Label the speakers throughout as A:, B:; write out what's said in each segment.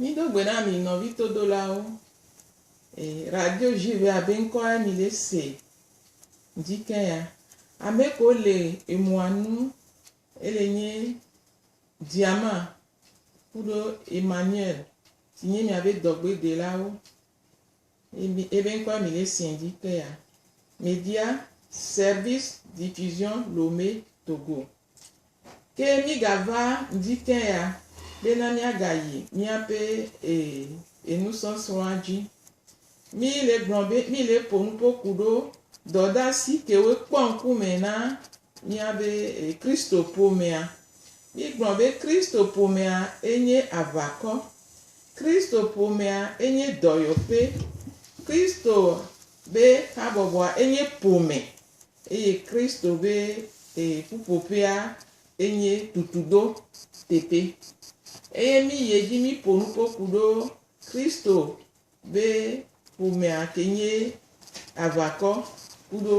A: Mido gbe na mi nɔvi todolawo. E, radio juve abe ŋkɔ e mi le se. Dzi ke ya. Ame ko le emua nu ele nye Diama kuɖo Emmanuel si nye miabe dɔgbedelawo. Ebe ebe ŋkɔ e mi le se dzi ke ya. Media Service Diffusion Lomé Togo. Ke mígava ŋdi ke ya bena míagayi míaƒe e, e nusɔsrɔ̃a dzi. Mí le gblɔ be mí le ƒo nuƒo ku ɖo dɔdasi kewoe kpɔ ŋku me na míabe e Kristo ƒomea. Mígblɔ be Kristo ƒomea e nye aʋakɔ. Kristo ƒomea e nye dɔyɔƒe. Kristo be habɔbɔa e nye ƒome. Eye Kristo be ee ƒuƒoƒea enye tutudo teƒe. Eye mi yi edzi mi ƒo nu ko ku ɖo Kristo be ƒomea ke nye aʋakɔ ku ɖo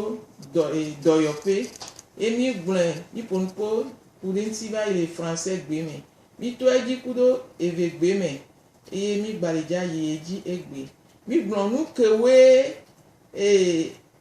A: dɔ ee dɔyɔƒe. Eye mi gblɔe mi ƒo nu ko ku ɖe ŋuti va yi le Français gbe me. Mi to edzi ku ɖo eve gbe me eye mi gbali dza yi edzi egbe. Mi gblɔ nu ke woe ee.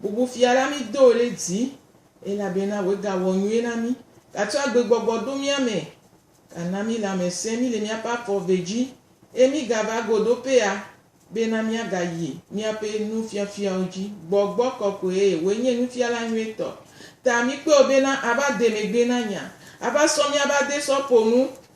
A: Bubu Fia la mí do ɖe dzi, elabena wòe gawɔ nyuie na mí. Gatsɔ agbegbɔgbɔ ɖo mía me, gana mí lãmesẽ mí le míaƒe afɔ ve dzi, eye mí gava go ɖo pɛa, bena mía ga yi míaƒe nufiafiawo dzi. Gbɔgbɔ kɔkɔe wòe nye nufiala nyuie tɔ. Ta mí kpeɔ bena ava de megbe na nya, ava sɔ mía ava de sɔ ƒo nu.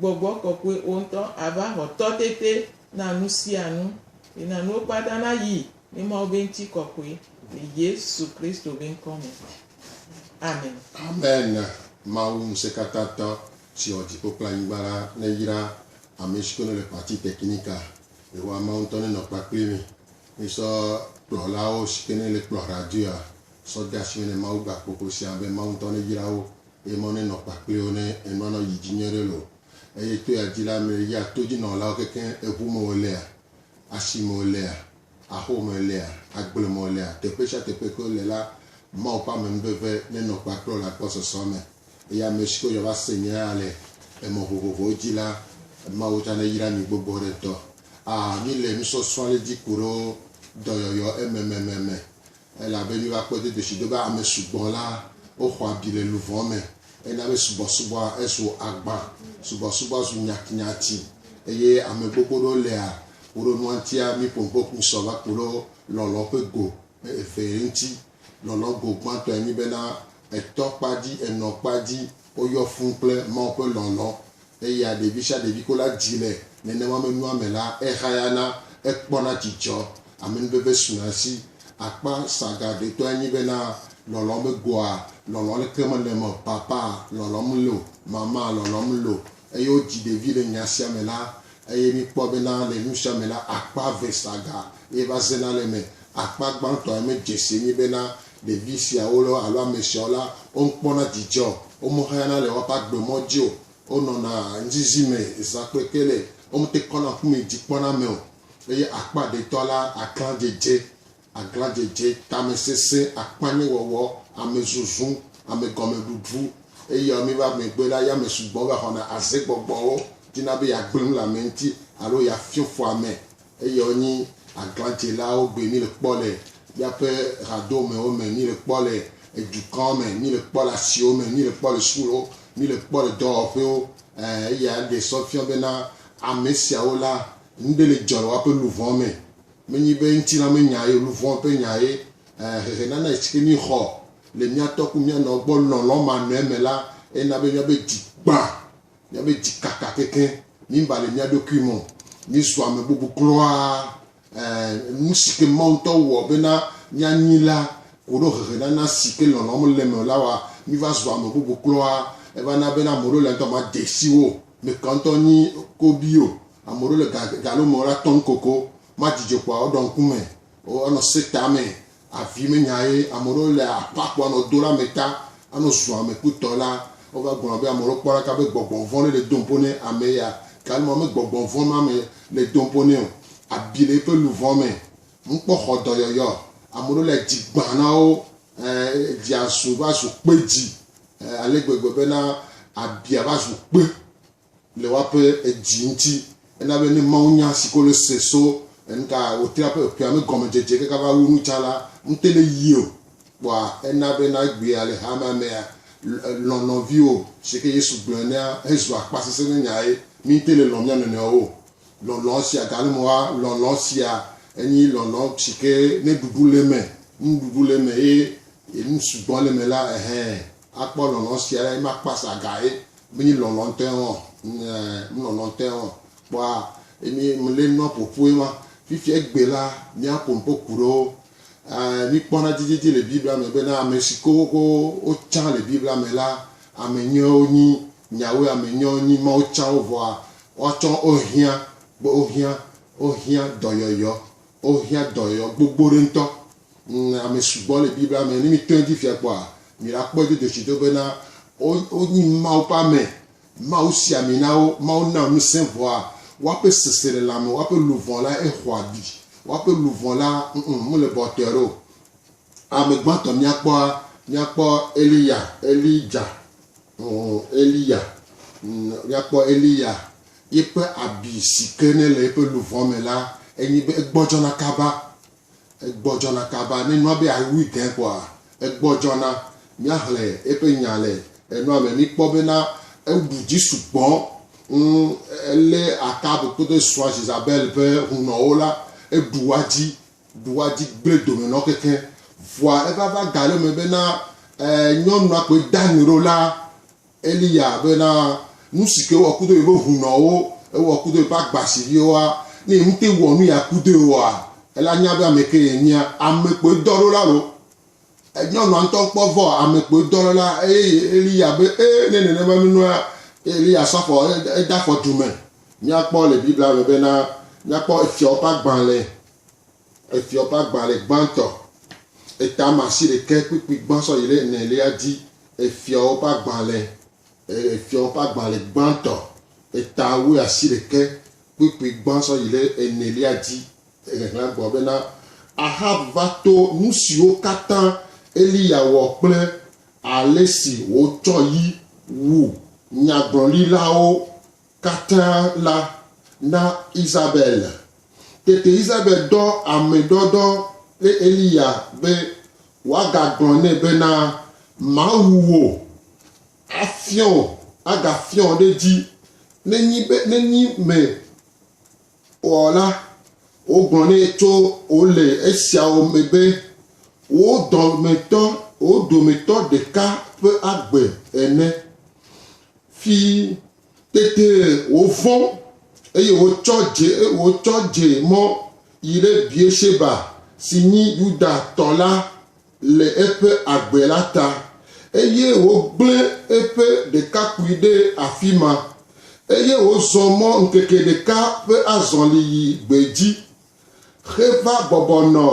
A: Gbɔgbɔ Kɔkɔe wo ŋutɔ ava xɔ tɔ tete na nu sia nu, yi na nuwo kpata na yi ne Mawu be ŋuti kɔkɔe le Yesu Kristo be ŋkɔ me. Amen. Amen
B: Mawu ŋusẽkatãtɔ si wɔ dziƒo kple anyigba la neyra ame siwo nele parti technical Yehowa Mawu ŋutɔ nenɔ kpakpli mi misɔ kplɔlawo siwo nele kplɔ radioa sɔ de asi me ne Mawu gba kpokpo sia be Mawu ŋutɔ neyra wo Eye mɔ nenɔ kpakpliwo ne enua nɔ yi dzi nyuiɖe loo. Eye to ya dzi la, ame yi ya to dzi nɔlawo kekeŋ, eŋu me wo lea, asi me wo lea, axo me wo lea, agble me wo lea, teƒe sia teƒe ke wo le la, Mawu ƒe amenuveve nenɔ kpakple wo le agbɔsɔsɔ me. Eye ame siwo ya va se nye ya le emɔ vovovowo dzi la, Mawu tsã neyra mi gbogbo ɖe ŋutɔ. Aa, mi le nusɔsrɔ̃ ale dzi ku ɖo dɔyɔyɔ ememememe. Elabe míva kpɔe dodo si do be ame sugbɔ la, woxɔ abi le luʋɔ me. Ena be subɔsubɔa ezu agbã, subɔsubɔa zu nyatinyati, eye ame gbogbo ɖewo lea woɖo nua ŋutia mí ƒonuƒo ƒu sɔ va ku ɖo lɔlɔ ƒe go eve ŋuti. Lɔlɔ go gbãtɔe nye bena etɔ kpa dzi, enɔ kpa dzi, woyɔ fũ kple Mawu ƒe lɔlɔ. Eya ɖevi sia ɖevi ko la dzi le nenema me nua me la, ehayana, ekpɔna dzidzɔ, amenuveve suna esi. Akpa saga ɖetɔe nye bena lɔlɔ megoa, lɔlɔ leke mele me o, papa lɔlɔm lo, mama lɔlɔm lo. Eye wodzi ɖevi le nya sia me la, eye mikpɔ bena le nu sia me la, akpa eve saga ye va zena le eme. Akpa gbãtɔe me dzese nye bena ɖevi siawo lɔ alo ame siawo la, womekpɔna dzidzɔ o, womexeyana le woƒe agbe mɔ dzi o, wonɔna nuzizi me zã kple kele, womete kɔna ŋku me dzi kpɔna ame o. Eye akpa ɖetɔ la, aglãdzedze, aglãdzedze, tamesesẽ, akpanyewɔwɔ, amezuzu, amegɔmeɖuɖu, eye ame va megbe la, ya mesugbɔ va xɔna azegbɔgbɔwo, dina be yeagblẽ nu le ame ŋuti alo yeafio fu ame Eyɔ nyi aglãdzelawo gbe mí le kpɔ le míaƒe hadomewo me, mí le kpɔ le edukɔwo me, mí le kpɔ le asiwo me, mí le kpɔ le sukuwo, mí le kpɔ le dɔwɔƒewo. Ẽ, eyae ɖee sɔ fiɔ bena ame siawo la, nu ɖe le dzɔ le woaƒe luʋɔ me. Menye be ŋutilã me nya ye o, luʋɔ ƒe nya ye. Ẽ, xexenana si ke míexɔ le mía tɔ kple mía nɔwo gbɔ lɔlɔ̃manɔe me la, ena be míaƒe dzi gbã Míaƒe dzi kaka kekeŋ, míeba le mía ɖokui me o, míezu ame bubu kura. Ẽ, nu si ke Mawu ŋutɔ wɔ bena míanyi la ko ɖo hehenana si ke lɔlɔ̃ mele eme o la wɔa míva zua ame bubu kura. Eva na bena ame aɖewo le ŋutɔ made si wo me ka ŋutɔ nyi kobi o. Ame aɖewo le ga, galo me wola tɔm kokoko, madzi dzo kpɔ woaɖɔ ŋku me, woanɔ se tame, Avi menya ye ame ɖewo le aƒa kpɔ anɔ do ɖe ame ta anɔ zu ame ku tɔ la wova gblɔna be ame ɖewo kpɔ ɖaka be gbɔgbɔ vɔ̃ ɖe le do ŋpo ne ame ya ganu ma me gbɔgbɔ vɔ̃ ma me le do ŋpo ne o abi le eƒe luvɔ me ŋu kpɔ xɔ dɔyɔyɔ ame ɖewo le dzi gbã na wo e dzia zu va zu kpe dzi e ale gbegbe be na abia va zu kpe. Le woaƒe edzi ŋuti, ena be ne mawunya si ke wole se so enuka wòtrea ƒe eƒea me gɔmedzedze kaka va wu nu ta la ŋute le yii o. Kpɔa ena be nagbee ale hamea mea, Lɔ̃ nɔviwò, si ke Yesu gblɔ enea hezu akpasesẽ ƒe nyae. Míete le lɔ̃ mía nɔnɔewo o. Lɔlɔ̃ sia gale me woa, lɔlɔ̃ sia enye lɔlɔ̃ si ke ne ɖuɖu le eme, nuɖuɖu le eme eye nu sugbɔ le eme la, ɛhɛɛ, Akpɔ lɔlɔ̃ sia ɖa ye makpɔ asa ga ye mnyi lɔlɔ̃ ŋtɔe hɔn ŋ mlɔlɔ̃ ŋtɔe hɔn kpɔa ye mi mle nua ƒoƒu ye ma fifia egbe la mia ko ŋpo ku ɖewo e mi kpɔ na dzidzedzi le biblia me be na ame si ko ko wo tsa le biblia me la ame nyɔe wo nyi nyawoe ame nyɔe wo nyi mawo tsa wo vɔa woa tsɔ wo hiã be wo hiã wo hiã dɔyɔyɔ Wohiã dɔyɔyɔ gbogbo ɖe ŋutɔ. Ŋ, ame sugbɔ le Biblia me. Ne mìtɔ edzi via kpɔa, mìɖakpɔe do dzesitɔ bena wo, wonyi Mawu ƒe ame. Mawu si ami na wo. Mawu na ŋusẽ vɔa, woaƒe seselelãme, woaƒe luʋɔ la, exɔ abi. Woaƒe luʋɔ la, ŋ, mele bɔtɔe ɖe o. Ame gbãtɔ mìakpɔa, mìakpɔ Eliya, Elija, Eliya, míakpɔ Eliya yiƒe abi sike ne le eƒe luʋɔ me la, enye be egbɔdzɔna kaba, egbɔdzɔna kaba, ne nua be awui gãe kpɔa, egbɔdzɔna, míaxlẽ eƒe nya le enua me, míkpɔ bena ewu dzi sugbɔ, ŋ, elé Akab kple srɔ̃a Ʒezabel ƒe hunɔwo la, eɖu woa dzi, Ɖoa dzi gblẽ dome nɔ keke, vɔa evava ga ɖe me be na nyɔnua kpoe da nu ɖo la Eliya be na nu si ke ewɔ kudo yeƒe hunɔwo, ewɔ kudo yeƒe agbasiviwoa, ne yeŋte wɔ nu ya kudoe oa, ela nya be ame ke yenyea, ame kpoe dɔ ɖo la lo. Nyɔnua ŋutɔ kpɔ vɔ ame kpoe dɔ le la eye yi Eliya be, E, ne nenema nunua, Eliya sɔ afɔ ede afɔ du me. Míakpɔ le Biblia me bena, míakpɔ Efyɔwo ƒe agbalẽ, Efyɔwo ƒe agbalẽ gbãtɔ, etame asi ɖekɛ kpukpui gbã sɔ yi ɖe enelia dzi. Efyɔwo ƒe agbalẽ, Efyɔwo ƒe agbalẽ gbãtɔ, etame asi ɖekɛ kpukpui gbã sɔ yi ɖe enelia dzi. Ŋeŋlea gblɔ bena, Ahab va to nu siwo katã Eliya wɔ kple ale si wòtsɔ yi wu nyagblɔɖilawo katã la na Isabel. Tete Isabel dɔ ame dɔdɔ ɖe Eliya be wòagagblɔ nɛ bena, Mawu wò afiɔ wò, agafiɔ wò ɖe edzi, nenyi be nenyi me Kpɔ la, wogblɔ nɛ tso wo le esiawo me be, Wò dɔmetɔ, wò dometɔ ɖeka ƒe agbe ene. Fi tete wòvɔ̃, eye wòtsɔ dze, wòtsɔ dze mɔ yi ɖe Bier-Sheba, si nyi Yuda-tɔ la le eƒe agbe la ta, eye wògblẽ eƒe ɖekakpui ɖe afi ma, eye wòzɔ mɔ ŋkeke ɖeka ƒe azɔli yi gbedzi heva bɔbɔ nɔ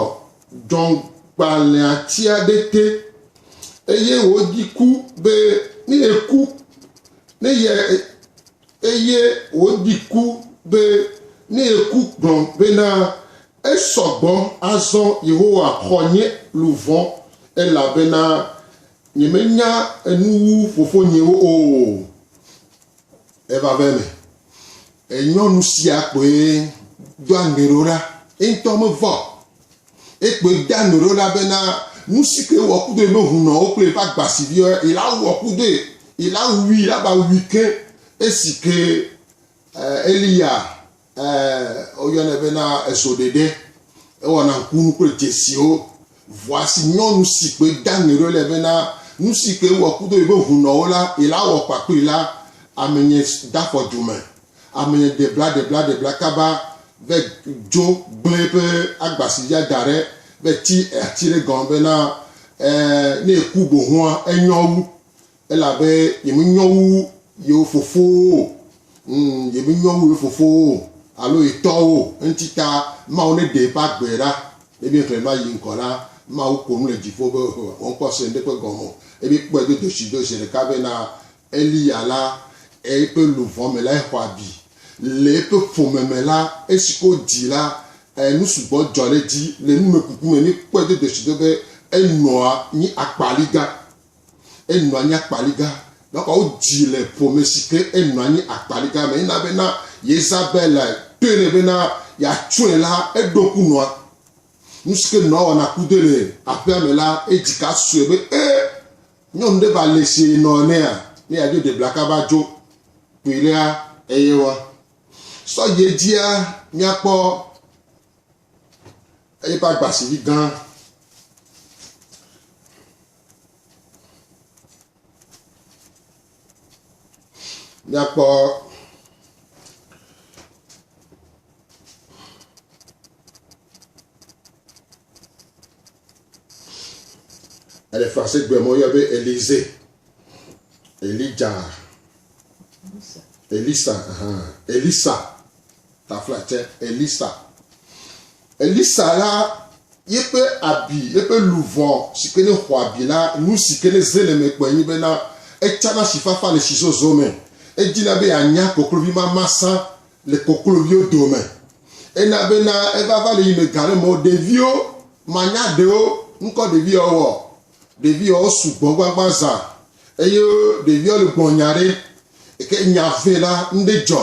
B: dzɔ̃gbalẽatsia ɖe te, eye wòɖi ku be ne yeku, ne ye, eye wòɖi ku be ne yeku gblɔ bena, Esɔ gbɔ azɔ Yehowa xɔ nye luʋɔ, elabena nyemenya enu wu fofonyewo o. Evave me, nyɔnu sia kpoe doa ŋe ɖo ɖa, ye ŋutɔ mevɔ̃ o. Ekpoe doa ŋe ɖo ɖa bena nu si ke wɔ kudue be hũnɔ wo kple yeƒe agbasiviwo la wɔ kudue, la wui, la va wui ke esi ke Eliya Ɛɛ, woyɔnɛ bena ezoɖeɖe. Ewɔna ŋkunu kple dzesiwo. Vɔa si nyɔnu si kpoe da ŋe ɖo le bena nu si ke wɔ kudo yi be hunɔwo la, yi la wɔ kpa kpli la, amenye da fɔ du me. Amenye de bla de bla de bla kaba ve dzo gble eƒe agba si ya da ɖe ve ti ati ɖe gɔme bena, ɛɛ, ne eku bohoa, enyɔ wu. Elabe yemenyɔ wu yewo fofowo o, ŋ, yemenyɔ wu yewo fofowo o, alo ye tɔwo o, eŋti ta Mawu neɖe eƒe agbe ɖa. Ne míexlẽ nua yi ŋgɔ la, Mawu ƒo nu le dziƒo be, Ɔ, woŋkpɔ se ŋɖekpe gɔme o. Ebe kpɔe do dzoshi do zeɖeka be na Eliya la, eƒe luʋɔ me la, exɔ abi. Le eƒe ƒome me la, esi ke wodii la, ɛ, nu sugbɔ dzɔ ɖe edzi. Le numekuku me, míekpɔe do dzoshi do be enɔa nyi akpaliga. Enɔ anyi akpaliga. Ɖɔka wodzi le ƒome si ke enɔ anyi akpaliga me. Ena be na Yezabel tɔe nɛ be na yeatsɔe la, eɖo ku nɔa. Nu si ke nɔa wɔna kudoe le aƒea me la, edzi ka sue be e nyɔnu ɖe va le sie nɔ enea, ne yeadzo ɖe blaka va dzo kpui ɖea eye wa sɔ yi edzia míakpɔ eƒe agbasivi gã. Míakpɔ Elifasi gblɔe ma woyɔ be Elize, Elija, Elisa, aha, Elisa. Tafla tse Elisa. Elisa la yeƒe abi, yeƒe luvɔ si ke ne xɔ abi la, nu si ke ne ze le me kpɔe nyi bena etsana sifafa le sizozo me. Edina be yeanya koklovi mamasã le kokloviwo dome. Ena bena evava le yi me ga ɖe mɔ ɖeviwo manya ɖewo ŋkɔ ɖeviawo. Ɖeviawo sugbɔ gbagba zã eye ɖeviawo le gbɔnya ɖe eke nya vɛ la ŋɖe dzɔ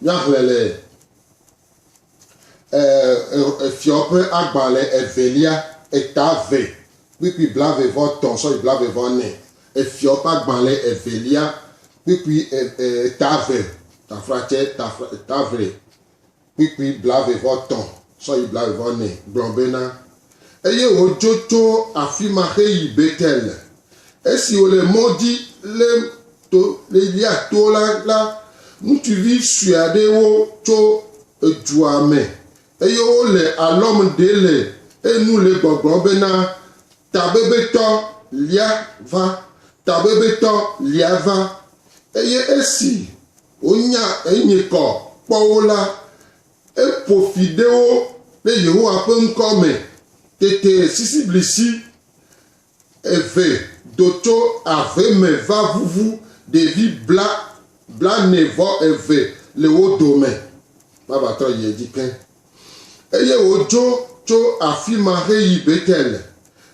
B: Míaxlẽ le Efyɔwo ƒe agbalẽ evelia, eta eve, kpukpui blaeve-vɔ-etɔ̃ sɔyi blaeve-vɔ-ene. Efyɔwo ƒe agbalẽ evelia, kpukpui eta eve, tafratsɛ, eta eve, kpukpui blaeve-vɔ-etɔ̃ sɔyi blaeve-vɔ-ene gblɔ bena, Eye wòdzo tso afi ma heyi Betel. Esi wòle mɔ dzi le To Libya to la la, ŋutsuvi sue aɖewo tso edua me, eye wole alɔm ɖe le enu le gbɔgblɔm bena, Tabebetɔ lia va! Tabebetɔ lia va! Eye esi wonya enye kɔ kpɔ wo la, eƒo fi ɖe wo ɖe Yehowa ƒe ŋkɔ me teteesisiblisi eve do tso ave me va vuvu ɖevi bla, blaene vɔ eve le wo dome va va trɔ yi edzi ke. Eye wodzo tso afi ma heyi Betel.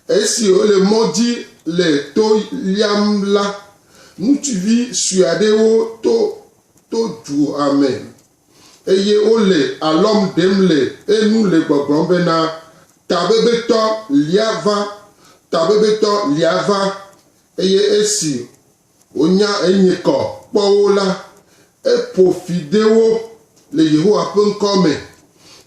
B: Esi wole mɔ dzi le to liam la, ŋutsuvi sue aɖewo to to dua me eye wole alɔm ɖem le enu le gbɔgblɔm bena, Tabebetɔ lia va! Tabebetɔ lia va! Eye esi wònya enye kɔ kpɔ wo la, eƒo fi de wo le Yehowa ƒe ŋkɔ me.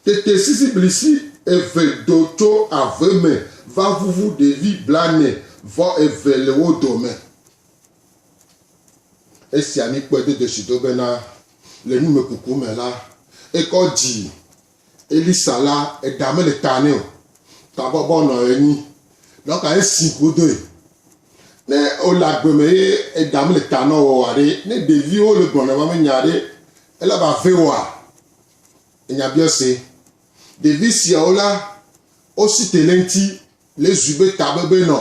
B: Tete sisiblisi eve do tso ave me va ʋuʋu ɖevi blaene vɔ eve le wo dome. Esia mi kpɔe do dzesi do bena, Le numekuku me la, ekɔ dzi Elisa la, eɖa mele ta nɛ o, tabɔbɔ nɔ enyi. Nɔ ka esi godoe? Ne wole agbe me ye eɖa mele ta nɔ wò aɖe, ne ɖeviwo le gblɔ nèva me nya aɖe, ele va ve woa? Enyabiɔse. Ɖevi siawo la, wosi te le eŋuti Lé zui be tabebe nɔ,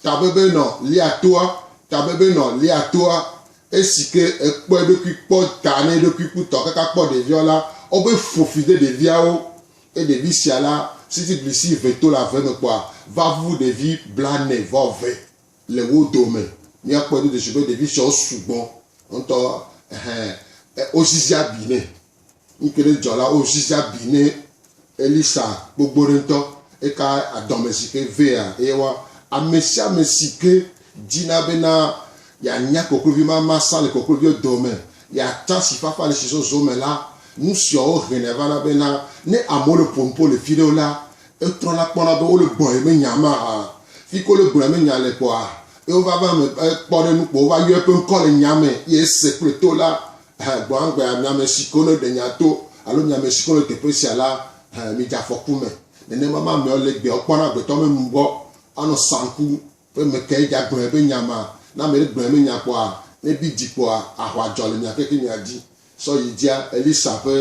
B: tabebe nɔ lia toa, tabebe nɔ lia toa. Esike ekpɔ eɖokui kpɔ ta ne eɖokui ku tɔ kaka kpɔ ɖeviawo la, obe fofi de ɖeviawo. Ke ɖevi sia la, sitiblisi ve to le ave me kpɔa, va vuvu ɖevi blane vɔ ve le wo dome. Mia kpɔe dodo si be ɖevi siawo sugbɔ ŋtɔ. Ehɛ, ozizi abi nɛ. Eke ɖe dzɔ la, wo ziza bi ne Elisa gbogbo ɖe ŋutɔ. Eka adɔme si ke vea eye wa ame sia ame si ke dzina bena yeanya koklovi ma masa le kokloviwo dome, yeatsa si fafa le si zɔzɔ me la, nu siawo hɛnɛ vana bena ne amewo le ƒo nu ƒo le fi ɖewo la, etrɔ la kpɔna be wole gbɔn ye menya ma hã. Fi ke wole gbɔn menya le kpɔa, eye wova va me kpɔ ɖe nu kpɔ wova yɔe ƒe ŋkɔ le nya me ye ese kple to la Hẽ, gbɔagbea, mi amesiwo le ɖe nya to, alo mi amesiwo le teƒe sia la, hẽ, midze afɔku me. Nenema ma ameawo le gbeawo kpɔm na agbetɔ me nu gbɔ anɔ saŋku be mekae dza gblɔe be nya ma. Ne ame ɖe gblɔe be nya kpɔa, ne bi dzi kpɔa, aʋa dzɔ le mia keke mia dzi. Sɔ yi dzia Elisa ƒe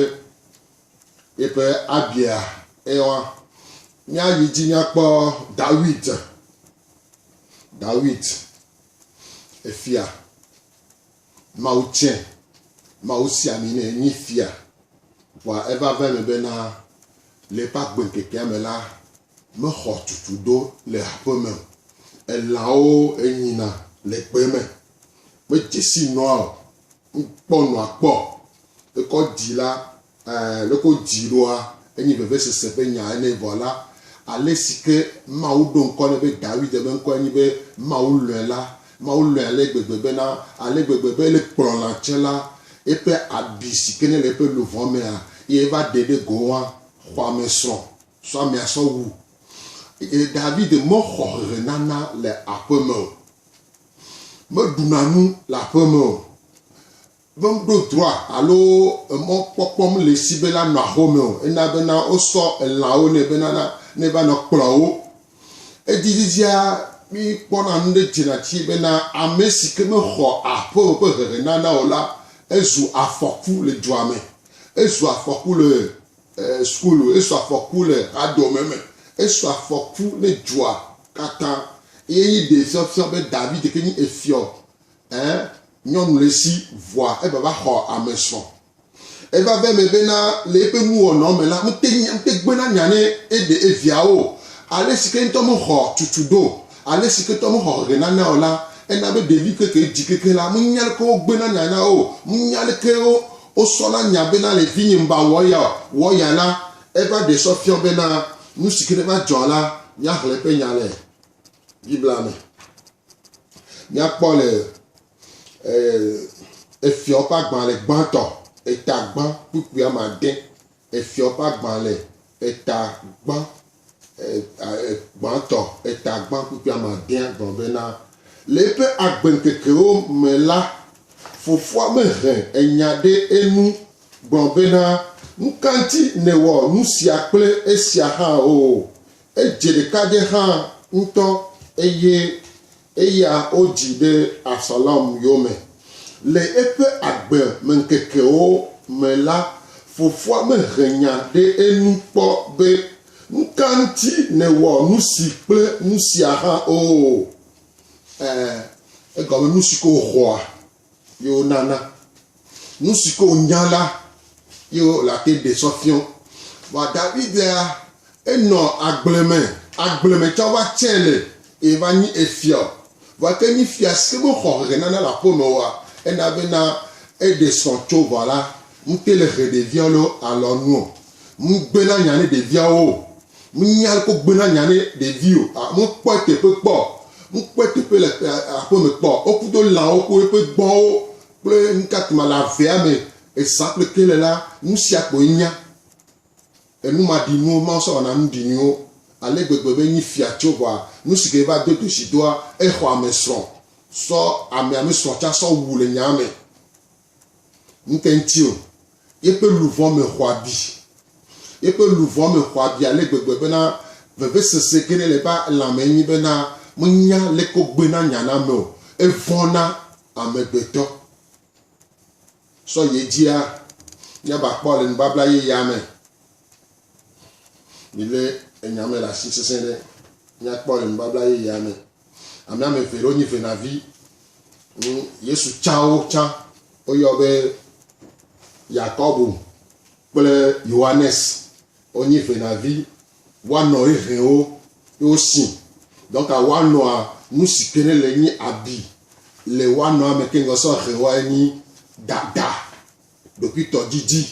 B: yeƒe abiea eɔa. Mia yi dzi mia kpɔ Dawid. Dawid, efia. Mawu tsɛ, Mawu si ami nɛ nyi fia. Vɔa eva va eme bena, le eƒe agbeŋkekea me la, mexɔ tutu do le aƒeme o. Elãwo enyina le gbe me. Medze si nɔa o. Ŋkpɔ nɔa kpɔ. Ekɔ dzi la, Ẽ, leke wodii ɖoa? Enye vevesese ƒe nya ene vɔ la, alesi ke Mawu ɖo ŋkɔ nɛ be Dawid ƒe ŋkɔe nye be Mawu lɔ̃e la, Mawu lɔ̃e ale gbegbe bena, ale gbegbe be le kplɔla tsɛ la, eƒe abi si ke ne le eƒe luʋɔ mea, eye eva ɖe ɖe go hã, xɔamesrɔ̃ sɔ amea sɔ wu. Eye Dawid mexɔ hehenana le aƒeme o. Meɖuna nu le aƒeme o. Be ŋɖo droa alo emɔ kpɔkpɔm le si be la nɔ axome o. Ena be na wo sɔ elãwo nɛ be na na ne va nɔ kplɔ wo. Edi didia mi kpɔ na nu ɖe dzena tsi be na ame si ke me xɔ aƒeme ƒe hehe nana o la ezu afɔku le dua me. Ezu afɔku le school, esu afɔku le hadome me, esu afɔku ne dua kata. Eye nyi ɖe fiɔfiɔ be David ke nyi efiɔ Ẽ, nyɔnu le si vɔa eva va xɔ ame srɔ̃. Eva ve eme bena le eƒe nuwɔnɔ me la, mete nya, mete gbena nya ne eɖe eviawo o. Ale si ke ŋutɔ mexɔ tutu ɖo, ale si ke ŋutɔ mexɔ hehe nana o la, ena be ɖevi keke dzi kekeŋ la, menya leke wogbena nya na o. Menya leke wo, wosɔna nya bena le vinye ŋba wɔ eya o. Wɔ ya la, eva ɖe sɔ fiɔ bena nu si ke ne va dzɔ la, míaxlẽ eƒe nya le. Biblia me. Míakpɔ le Efyɔ ƒe agbalẽ gbãtɔ, eta gbã kpukpui ame ade. Efyɔ ƒe agbalẽ eta gbã gbãtɔ, eta gbã kpukpui ame adea gblɔ bena, le eƒe agbeŋkekewo me la, fofoa mehe enya ɖe enu gblɔ bena, Nu ka ŋuti nèwɔ nu sia kple esia hã o? Edze ɖekadze hã ŋutɔ eye eya wodzi ɖe Absalom yome. Le eƒe agbemeŋkekewo me la, fofoa mehe nya ɖe enu kpɔ be, Nu ka ŋuti nèwɔ nusi kple nusia hã o? Ẽ, egɔme nusi ko wòxɔa. Ye wonana nu si ke wonya la ye wole ate ɖe sɔ fiɔ. Vɔa Davidea, enɔ agble me, agble me tsã va tsɛ le ye va nyi efia o. Vɔa ke nyi fia si ke mexɔ hehenana le aƒe me oa, ena bena eɖe sɔ tso vɔ la, ŋute le he ɖevia loo alɔ nu o. Ŋugbe nanya ne ɖeviawo o. Mínya ɖe kpɔ gbena nya ne ɖevi o. A Mu kpɔe teƒe kpɔ o. Mu kpɔe teƒe le aƒe me kpɔ o. Wo ku do lãwo ku eƒe gbɔ̃wo kple nuka tuma le avea me ezã kple ke le la, nu sia kpɔ enya. Enu ma ɖi nuwo Mawu sɔ wɔna nu ɖi nuwo ale gbegbe be nyi fia tso ʋɔa nu si ke va do dosi doa exɔ ame srɔ̃ sɔ ame ame srɔ̃ tsa sɔ wu le nyaa me. Ŋte ŋti o, yeƒe luʋɔ me xɔ abi. Yeƒe luʋɔ me xɔ abi ale gbegbe bena vevesese gene le eƒe lãme nyi bena menya leke wogbe na nya na ame o. Evɔ̃ na amegbetɔ. Sɔ yi edzia, míava kpɔ le nubabla yeyea me. Milé enya me le asi sesẽ ɖe. Míakpɔ le nubabla yeyea me. Ame ame eve ɖewo nyi venavi. Hmm, Yesu tsawo tsã woyɔ be Yakobo kple Yohanes. Wonyi venavi woanɔ hehewo ye wosi. Donc woanɔa nu si ke ne le nyi abi le woanɔa me ke ŋgɔ sɔ hewoa enyi dada Ɖokuitɔdidi,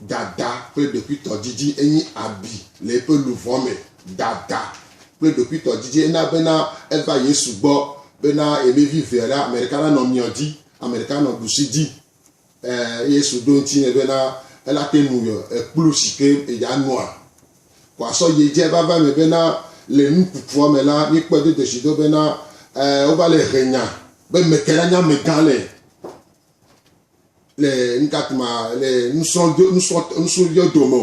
B: Dada kple ɖokuitɔdidi enye abi le eƒe luʋɔ me. Dada kple ɖokuitɔdidi ena bena eva Yesu gbɔ bena yemevi vea la, ame ɖeka nanɔ miɔ dzi, ame ɖeka anɔ ɖusi dzi. E, Yesu ɖo ŋuti nɛ bena ela te ŋu yɔ ekplu si ke yedza nua. Ko asɔ yi edze vava me bena le nu kukuɔ me la, míkpɔe do dzesi do bena e, wova le he nya be meke la nye amegã le. le nutatuma le nusɔdo nusɔ nusɔdɔ dome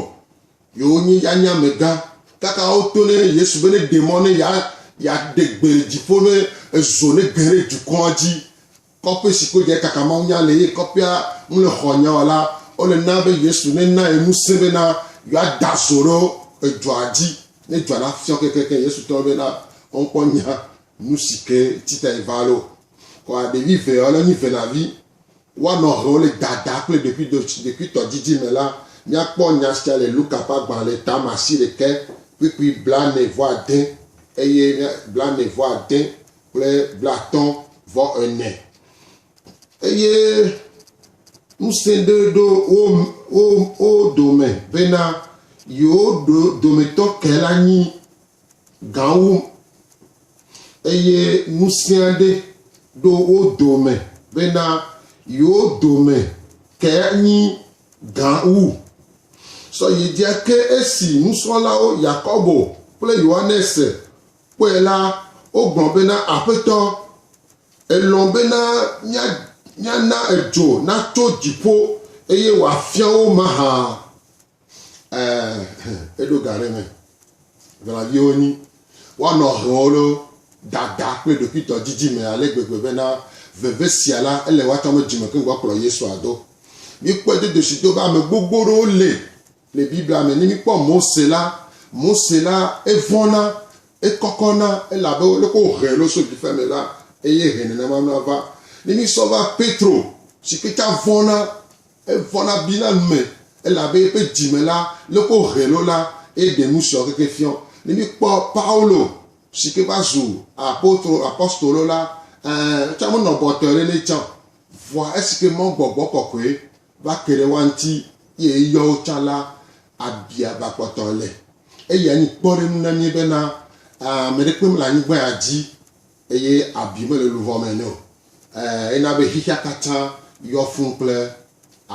B: yewo nyi yanya megã kaka woto ne yesu be ne ɖe mɔ ne ya yaɖe gbe le dziƒo ne ezo ne ge ɖe dukɔa dzi kɔƒe si ko dze kaka mawu nya le ye kɔƒea ŋu le xɔ nyawa la wole na be yesu ne na ye ŋusẽ be na yeada zo ɖo edzɔa dzi ne dzɔa na fiɔ kekeke yesu tɔ be na wɔnkpɔ nya Nusi ke tsita eva lo kɔa ɖevi ve ɔlɛ nyi venavi wa nɔ hɛwo le dada kple ɖekui do ɖekui tɔ didi me la. Mia kpɔ nya sia le Luka ƒe agban le tama asi ɖekɛ kpikpi blane vɔ ade eye mia blane vɔ ade kple blatɔ vɔ ene. Eye ŋusẽ ɖe ɖo wo wo wo dome bena yewo ɖo dometɔ kɛ la nyi gãwo, eye ŋusẽa ɖe ɖo wo dome bena yewo dome ke nyi gã wu. Sɔ yi dzia ke esi nusrɔ̃lawo Yakobo kple Yohanes kpɔe la, wogblɔ bena, Aƒetɔ, èlɔ̃ bena míana edzo natso dziƒo eye wòafia wo mahã? Ɛɛ, eɖo ga ɖe mɛ. Velaviwo nyi. Woanɔ hlɔ̃wo ɖo dada kple ɖokuitɔ didi me ale gbegbe bena veve sia la, ele woatɔ ame dzime keŋ gbɔ kplɔ Yesu ado. Míkpɔe dodo si do be ame gbogbo ɖewo le le Biblia me. Ne míkpɔ Mose la, Mose la, evɔ̃na, ekɔkɔna, elabe leke wohee ɖo so ɖiƒe me la, eye he nenema mlɔa va. Ne mísɔ va Petro, si kpeta vɔ̃na, Evɔna bina nu me, elabe eƒe dzi me la le ko hẽ lo la, eye ɖe nu sia keke fiɔ. Ne míkpɔ Paulo si ke va zu apotro, apostolo la, ẽ, etsã menɔ bɔtɔe ɖe nɛ tsã o. Vɔa esi ke Mawu gbɔgbɔ kɔkɔe va ke ɖe woa ŋuti eye eyɔ wo tsã la, abi aba kpɔtɔ le. Eyae nye kpɔɖeŋu na mí bena, ẽ, ame ɖekpe mele anyigba ya dzi. Eye abi mele luʋɔ me nɛ o. Ẽ, ena be xexea katã yɔ fũu kple